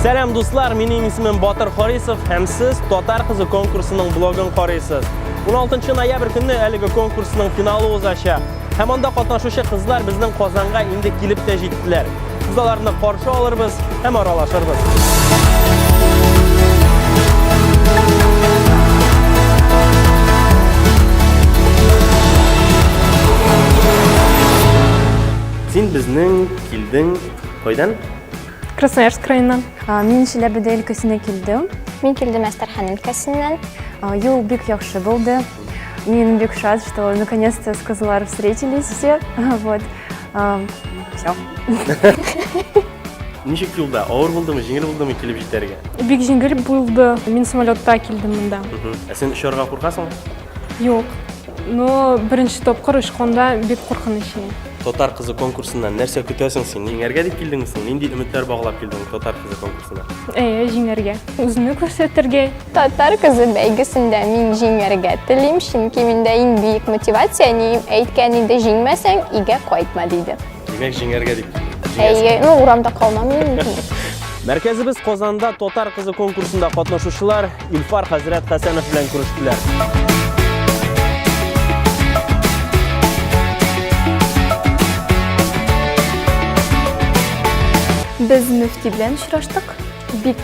Сәлам дуслар, минем исемем Батыр Харисов һәм сез Татар кызы конкурсының блогын карыйсыз. 16 ноябрь көнне әлеге конкурсның финалы узачак. Һәм анда катнашучы кызлар безнең Казанга инде килеп тә җиттеләр. Без аларны каршы алырбыз, һәм аралашырбыз. Син безнең килдең кайдан? Красноярск краеннан. Мин Чиләбедә өлкәсенә килдем. Мин килдем Әстерхан өлкәсеннән. Юл бик яхшы булды. Мин бик шат, что наконец-то с Козлар встретились все. Вот. Все. Ничек юлда? Авыр булдымы, җиңел булдымы килеп җитәргә? Бик җиңел булды. Мин самолетта килдем монда. Ә сен очарга куркасың? Юк. Но беренче тапкыр очканда бик куркыныч иде. Татар кызы конкурсыннан нәрсә көтәсең син? Җиңәргә дип килдеңме син? Нинди өметләр баглап килдең Татар кызы конкурсына? Әйе, җиңәргә. Үземне күрсәтергә. Татар кызы бәйгесендә мин җиңәргә телим, чөнки миндә иң бөек мотивация әнием әйткән иде, җиңмәсәң, өйгә кайтма диде. Димәк, җиңәргә дип. Әйе, ну урамда калмам мин. Мәркәзебез Казанда татар кызы конкурсында катнашучылар Илфар хәзрәт Хәсәнов белән күрештеләр. Без мөфти белән очраштык. Бик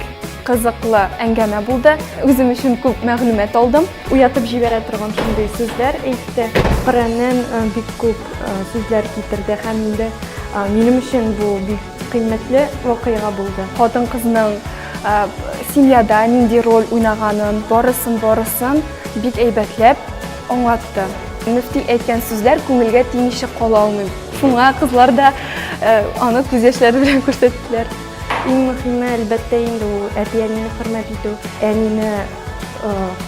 Кызыклы әңгәмә булды. Үзем өчен күп мәгълүмат алдым. Уятып җибәрә торган шундый сүзләр әйтте. Коръәннән э, бик күп э, сүзләр китерде һәм инде э, минем өчен бу бик кыйммәтле вакыйга булды. Хатын-кызның семьяда нинди роль уйнаганын, барысын-барысын бик әйбәтләп аңлатты. Мөфти әйткән сүзләр күңелгә тимичә кала алмыйм. Шуңа кызлар да аны күз яшьләре белән күрсәттеләр. Иң мөхиме, әлбәттә инде ул әти-әнине хөрмәт итү, әнине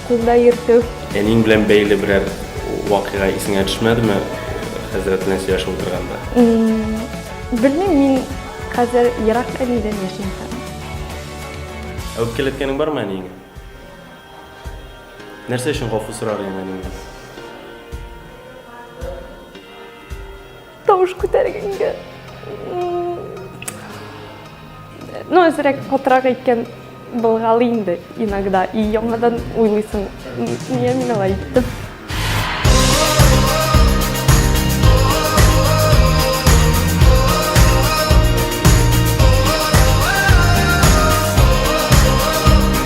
кулда йөртү. Әниң белән бәйле берәр вакыйга исеңә төшмәдеме, хәзрәт белән сөйләшеп утырганда? Белмим, мин хәзер ерак әнидән яшим. Әүпкәләткәнең бармы әниеңә? Нәрсә өчен гафу сорар идең әниеңнән? Тавыш күтәргәнгә. Ну, әзрәк потрак әйткән былгалы инде иногда. И яңадан уйлыйсың, нигә мин алай әйттем?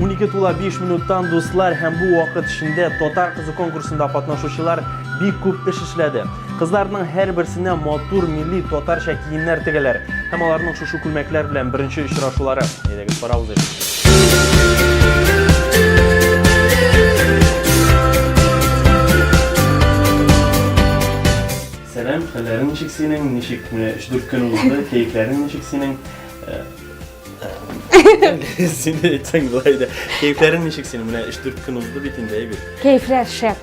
Унике тула 5 минуттан дуслар һәм бу вакыт эчендә татар кызы конкурсында катнашучылар бик күп эш эшләде. Кызларның һәр берсенә матур милли татарча киемнәр тегәләр һәм аларның шушы күлмәкләр белән беренче очрашулары. Әйдәгез, барабыз Сәлам, хәлләрең ничек синең? Ничек менә өч-дүрт көн узды, кәефләрең ничек синең? Син дә әйтсәң була иде. Кәефләрең ничек синең? Менә өч-дүрт көн узды бит инде, әйбит. Кәефләр шәп.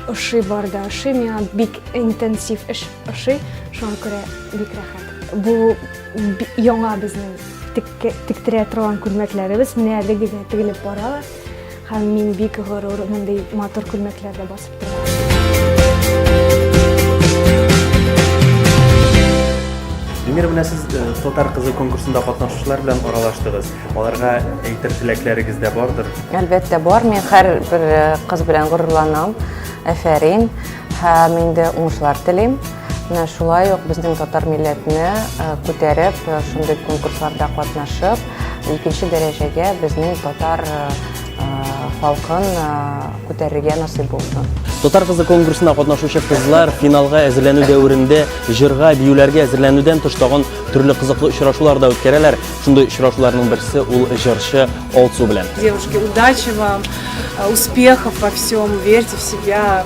Ошый бар да ошый, миңа бик интенсив эш ошый, шуңа күрә бик рәхәт. Бу яңа безнең тектерә торган күлмәкләребез менә әлеге генә тегелеп бара. Һәм мин бик горур мондый матур күлмәкләрдә басып торам. Венера, менә сез э, татар кызы конкурсында катнашучылар белән аралаштыгыз. Аларга әйтер теләкләрегез дә бардыр? Әлбәттә бар. Мин һәр бер э, кыз белән горурланам. Әфәрин. Һәм инде уңышлар телим. Менә шулай ук безнең татар милләтне күтәреп, шундый конкурсларда катнашып, икенче дәрәҗәгә безнең татар халкын күтәрергә насыйп булсын. Татар кызы конкурсына катнашучы кызлар финалга әзерләнү дәверендә җырга, биюләргә әзерләнүдән тыш тагын төрле кызыклы очрашулар да үткәрәләр. Шундый очрашуларның берсе ул җырчы Алсу белән. Девушки, удачи вам, успехов во всем, верьте в себя.